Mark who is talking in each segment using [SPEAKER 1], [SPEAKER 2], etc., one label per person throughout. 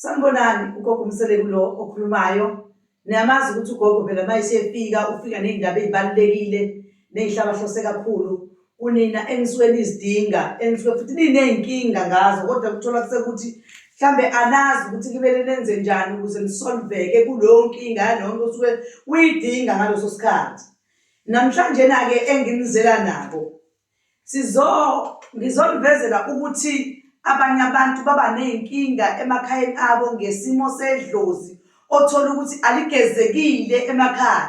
[SPEAKER 1] Sanibonani, ugogo uMseleku lo okhulumayo. Niyamazi ukuthi ugogo phela uma esefika ufika ney'ndaba ey'balulekile ney'hlabahlose kakhulu kunina enisuke nizidinga enisuke futhi niney'nkinga ngazo kodwa kuthola kusekuthi mhlambe anazi ukuthi kumele nenze njani ukuze nisolveke kuleyo nkinga yalonto osuke uyidinga ngaleso sikhathi. Namhlanje-na-ke enginizela nabo Sizo, Ngizonivezela ukuthi abanye abantu baba nezinkinga emakhayeni abo ngesimo sedlozi othola ukuthi aligezekile emakhaya.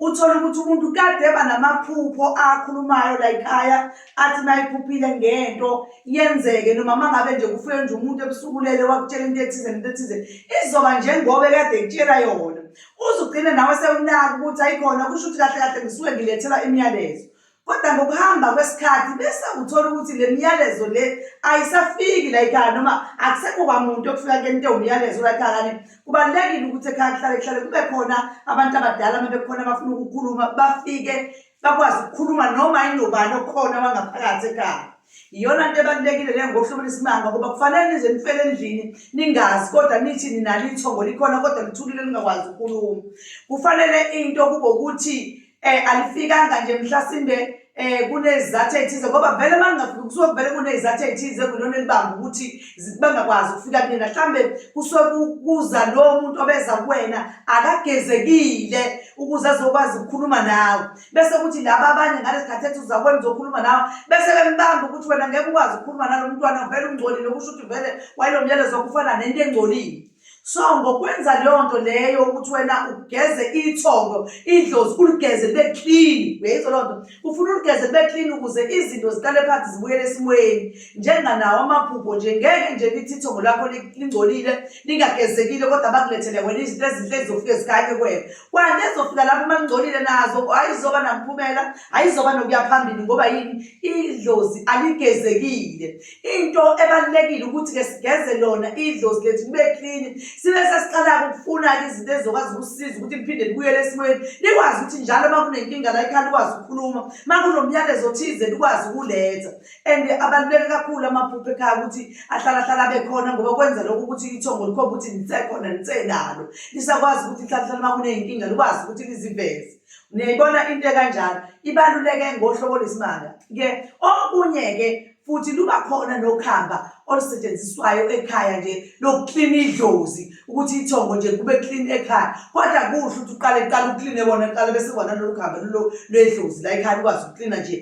[SPEAKER 1] Uthola ukuthi umuntu kade eba namaphupho akhulumayo la ekhaya athi mayiphuphile ngento yenzeke noma mangabe nje kufike nje umuntu ebusukulele wakutshela into ethize nento ethize izoba njengoba kade ekutshela yona. Uzugcine nawe sewunaka ukuthi ayikhona kusho ukuthi kahle kahle ngisuke ngilethela imiyalezo. Kodwa ngokuhamba kwesikhathi bese uthola ukuthi le miyalezo le ayisafiki la ekhaya noma akusekho kwamuntu okufika kuyena umyalezo la ekhaya kanti kubalulekile ukuthi ekhaya kuhlale kuhlale kube khona abantu abadala uma bekhona abafuna ukukhuluma bafike bakwazi ukukhuluma noma inobani okhona wangaphakathi ekhaya iyona nto ebalulekile leyo ngokuhlobela isimanga ngoba kufanele nize nifele endlini ningazi kodwa nithi ninalo ithongo likhona kodwa lithulile lingakwazi ukukhuluma kufanele into kube ukuthi eh alifikanga nje mhlasimbe eh kunezathu ezithize ngoba vele mangafiki kusuke kuvele kunezathu ezithize kulona elibamba ukuthi bangakwazi ukufika kunina mhlambe kusuke kuza lo muntu obeza kuwena akagezekile ukuze azokwazi ukukhuluma nawe bese kuthi laba abanye ngalesikhathi ethi uzakwenza uzokhuluma nawe bese bembamba ukuthi wena ngeke ukwazi ukukhuluma nalo mntwana vele ungcolile kusho ukuthi vele wayelomyalezo okufana nento engcolile so ngokwenza leyo nto leyo ukuthi wena ugeze ithongo idlozi uligeze libe clean uyayizwa loo nto ufuna uligeze libe clean ukuze izinto ziqale phansi zibuyele esimweni njenganawo amaphupho nje ngeke nje lithi ithongo lakho lingcolile lingagezekile kodwa bakulethele wena izinto ezinhle ezizofike zikanye kwena kwanto ezofika lapho uma lingcolile nazo ayizoba namphumela ayizoba nokuya phambili ngoba yini idlozi aligezekile Into ebalulekile ukuthi-ke sigeze lona idlozi lethu libe klini sibe sesiqala-ke ukufuna-ke izinto ezizokwazi ukusiza ukuthi liphinde libuyele esimweni likwazi ukuthi njalo uma kunenkinga la ekhaya likwazi ukukhuluma uma kunomyalezo othize likwazi ukuletha and abaluleke kakhulu amaphupho ekhaya ukuthi ahlalahlala abe khona ngoba kwenza lokho ukuthi ithongo likhomba ukuthi nisekhona nisenalo lisakwazi ukuthi lihlalahlala uma kuneyinkinga likwazi ukuthi liziveze niyayibona into ekanjalo ibaluleke ngohlobo lwesimanga-ke okunye-ke futhi luba khona nokhamba olusetshenziswayo ekhaya nje lokuklina idlozi ukuthi ithongo nje kube clean ekhaya kodwa kuhle ukuthi uqale qala ukline wona qala bese kona lolu khamba lulo lwedlozi la ekhaya ukwazi ukuklina nje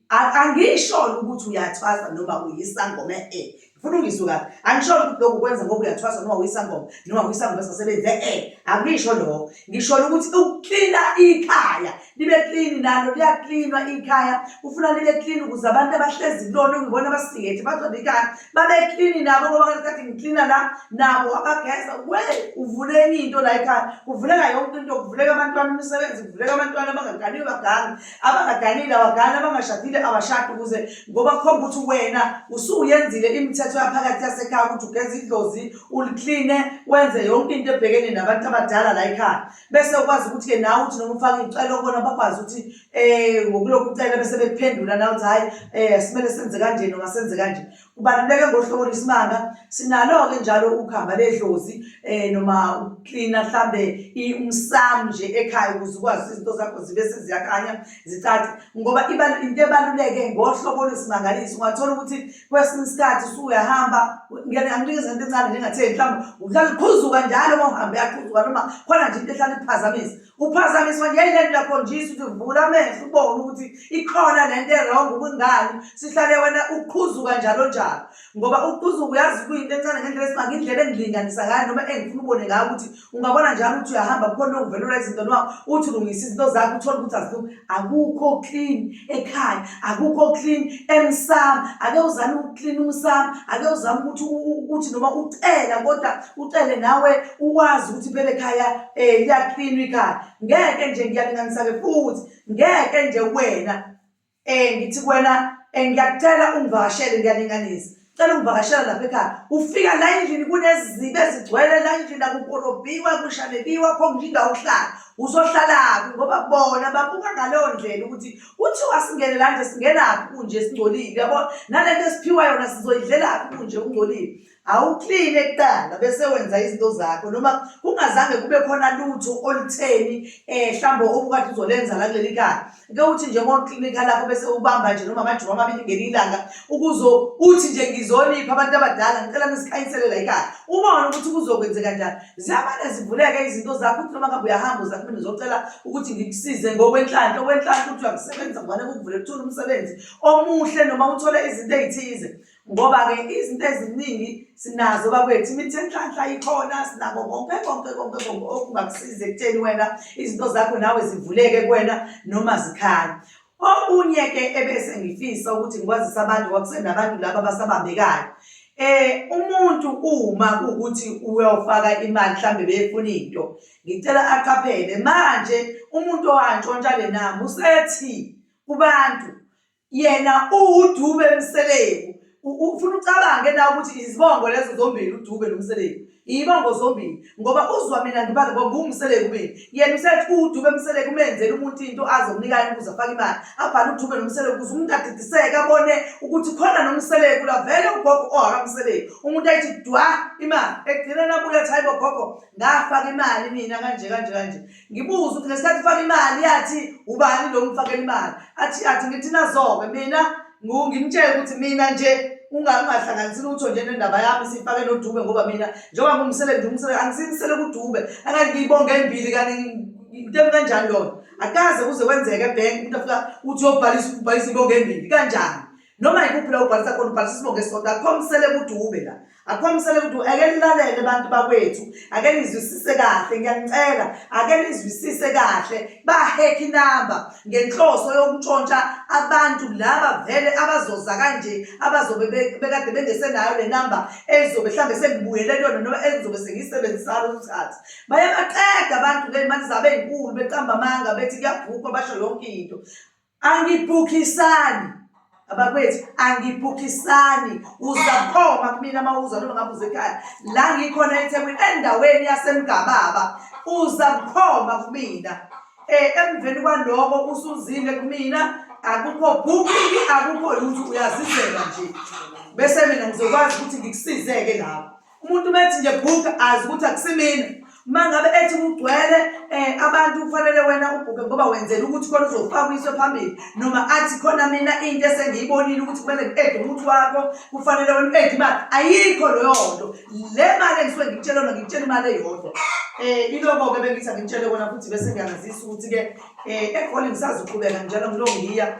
[SPEAKER 1] angisholo ukuthi uyathwasa noma uyisangoma e funa ungizwe kahle angisholo ukuthi lokhu kwenza ngoba uyathwasa noma uyisangoma noma uyisangoma sasebenze e angisho lokho ngisholo ukuthi ukuklina ikhaya libe clean nalo liyaklinwa ikhaya ufuna libe clean ukuze abantu abahlezi kulona ngibona abasiyethi bazobe ikhaya babe clean nabo ngoba ngesikhathi ngiklina la nabo abageza we uvule enye into la ekhaya kuvuleka yonke into kuvuleka abantwana imisebenzi kuvuleka abantwana abangaganiwe baganga abangaganile abagani abangashadile abashadi ukuze ngoba kukhomba ukuthi wena usuyenzile imithetho yaphakathi yasekhaya ukuthi ugeza idlozi ulikline wenze yonke into ebhekene nabantu abadala la ekhaya bese ukwazi ukuthi-ke nawe uthi noma ufake iy'celo kubona bakwazi ukuthi um ngokulokhu ucela bese bekuphendula nawe ukuthi hhayi um simele senze kanje noma senze kanje kubaluleke ngohlobo lwesimanga sinalo-ke njalo ukuhamba ledlozi um noma uklina mhlawumbe umsam nje ekhaya ukuze ukwazi ukuthi izinto zakho zibe seziyakhanya zicace ngoba into ebaluleke ngohlobo lwesimangaliso ungathola ukuthi kwesinye isikhathi usuyahamba ngeke anginikeze into encane ngingatheni mhlawumbe uhlala uqhuzuka njalo uma uhambe yaqhuzuka noma khona nje into ehlala ikuphazamisa uphazamiswa nje yile nto yakhonjisa ukuthi vula amehlo ubone ukuthi ikhona le nto erong ubungani sihlale wena uqhuzuka njalo njalo ngoba uqhuzuka uyazi kuyinto encane ngendlela esibange indlela engilinganisa ngayo noma engifuna ubone ngayo ukuthi ungabona njalo ukuthi uyahamba kukhona okuvelelwa izinto noma uthi ulungisa izinto zakho uthole ukuthi azilu akukho clean ekhaya akukho clean emsamo ake uzame ukuclean umsamo ake uzame ukuthi ukuthi noma ucela kodwa ucele nawe uwazi ukuthi phela ekhaya um eh, liyacleanwa ikhaya ngeke nje ngiyalinganisa-ke futhi ngeke nje wena Eh ngithi kuwena eh, ngiyacela ungivakashele ngiyalinganisa. Cela ungivakashela lapha ekhaya. Ufika la endlini kunezizibe ezigcwele la endlini akukorobhiwa kushanebiwa kho nje indawo ukuhlala. Uzohlalaphi ngoba bona babuka ngaleyo ndlela ukuthi kuthiwa singene la nje singenaphi kunje singcolile yabo. Nalento esiphiwa yona sizoyidlelaphi kunje ungcolile. awukline kuqala bese wenza izinto zakho noma kungazange kube khona lutho olutheni eh mhlawumbe obukade uzolenza la kuleli kaya ke uthi nje uma uklinika lapho bese ubamba nje noma amajuma amabili ngeli ilanga ukuzo uthi nje ngizonipha abantu abadala ngicela nisikhanyisele la ikaya uma wona ukuthi kuzokwenzeka njani ziyamane zivuleke izinto zakho uthi noma ngabe uyahamba uza kumina uzocela ukuthi ngikusize ngokwenhlanhla okwenhlanhla ukuthi uyakusebenza ngwane kukuvule kuthula umsebenzi omuhle noma uthole izinto ezithize ngoba-ke izinto eziningi sinazo bakwethu imithi enhlanhla ikhona sinako konke konke konke konke okungakusiza ekutheni wena izinto zakho nawe zivuleke kuwena noma zikhale okunye-ke ebese ngifisa ukuthi ngikwazise abantu kwakusenabantu laba abasabambekayo Eh umuntu uma ukuthi uyofaka imali mhlambe befuna into ngicela aqaphele manje umuntu owantshontsha le namba usethi kubantu yena uwudube mseleku ufuna ucabange na ukuthi izibongo lezo zombili udube nomseleku iyibongo zombili ngoba uzwa mina ngibale ngoba ngumseleku mina yena usethi udube mseleku umenzela umuntu into azomnika yena ukuze afake imali abhale udube nomseleku ukuze umuntu adidiseke abone ukuthi khona nomseleku la vele ugogo ohakamseleku umuntu ayithi dwa imali ekugcineni abuye athi hayibo gogo ngafaka imali mina kanje kanje kanje ngibuze ukuthi ngesikhathi ufaka imali yathi ubani lo ngifakela imali athi athi ngithi nazobe mina ngimtshele ukuthi mina nje ungahlanganisi lutho nje nendaba yami siyifake nodube ngoba mina njengoba ngumsele nje umsele angisimisele kudube angathi ngiyibonge embili kanti into kanjani lona akaze kuze kwenzeke ebhenki umuntu afika uthi uyobhalisa ubhalisa ibonge embili kanjani noma yikuphi la ubhalisa khona ubhalisa isibonge sodwa akukho msele kudube la akukhombisele ukuthi ake nilalele abantu bakwethu ake nizwisise kahle ngiyanicela ake nizwisise kahle bahekha inamba ngenhloso yokuntshontsha abantu laba vele abazoza kanje abazobe bekade bengesenayo le namba ezobe mhlawumbe sengibuyele kuyona noma engizobe sengiyisebenzisana umthatha bayabaqeda abantu ke imali zabo ey'nkulu beqamba amanga bethi kuyabhukwa basho yonke into angibhukisani abakwethu angibhukisani uzakhoma kumina uma uza noma ngabe uze ekhaya la ngikhona ethekwini endaweni yasemgababa uzakhoma kumina um emveni kwaloko usuzile kumina akukho bhukiki akukho lutho uyazizela nje bese mina ngizokwazi ukuthi ngikusize-ke lapho umuntu uma ethi nje bhuka azi ukuthi akusimina uma ngabe ethi kugcwele um abantu kufanele wena ubhubhe ngoba wenzela ukuthi khona uzofakwiswe phambili noma athi khona mina into esengiyibonile ukuthi kumele ngi-ede umuthi wakho kufanele wena u-ede imali ayikho leyo nto le mali engisuke ngikutshela yona ngikutshela imali eyodwa um eh, iloko-ke bengithi angikutshele kona futhi bese ngiyangazisa ukuthi-ke um eh, egoli ngisazuqhubeka njalo ngilongiya